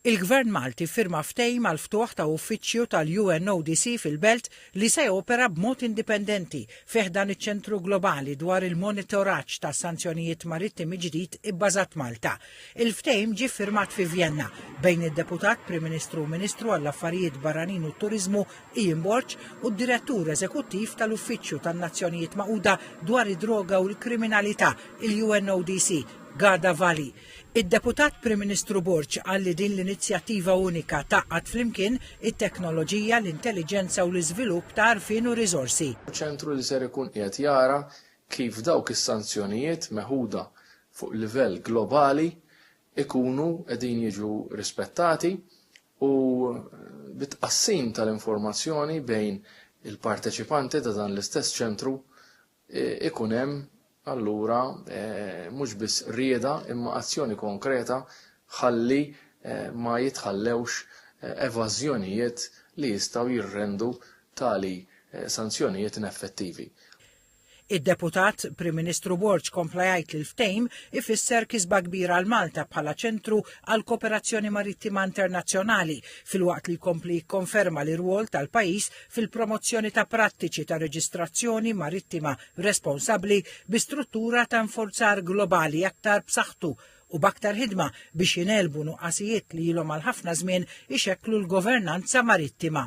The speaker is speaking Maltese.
Il-Gvern Malti ffirma ftehim għall-ftuħ ta' uffiċċju tal-UNODC fil-Belt li se jopera b'mod indipendenti fi ħdan iċ-Ċentru Globali dwar il-Monitoraġġ ta' Sanzjonijiet Marittimi ġdid ibbażat Malta. Il-ftehim ġie ffirmat fi Vjenna bejn id-Deputat Prim Ministru u Ministru għall-Affarijiet Barranin u t-Turiżmu Ian Borg u d-Direttur Eżekuttiv tal-Uffiċċju tan-Nazzjonijiet Magħquda dwar id-Droga u l-Kriminalità, il-UNODC, Ghada Vali. Id-Deputat Prim Ministru Borg qal li din l-inizjattiva unika tgħaqqad flimkien it-teknoloġija, l-intelliġenza u l-iżvilupp ta' għarfien u riżorsi. Ċentru li ser ikun qiegħed jara kif dawk is-sanzjonijiet meħuda fuq livell globali jkunu qegħdin jiġu rispettati u bit-tqassim tal-informazzjoni bejn il-parteċipanti ta' dan l-istess ċentru ikun hemm allura mhux biss rieda imma azzjoni konkreta ħalli ma jitħallewx evażjonijiet li jistgħu jirrendu tali sanzjonijiet ineffettivi. Id-Deputat Prim Ministru Borg kompla jgħid li l-ftehim ifisser kisba kbira għal Malta bħala ċentru għal kooperazzjoni marittima internazzjonali filwaqt li jkompli jikkonferma l-irwol tal-pajjiż fil-promozzjoni ta' prattiċi ta' reġistrazzjoni marittima responsabbli bi struttura ta' infurzar globali aktar b'saħħtu u b'aktar ħidma biex jingħelbu nuqqasijiet li ilhom għal ħafna żmien ixekklu l-governanza marittima.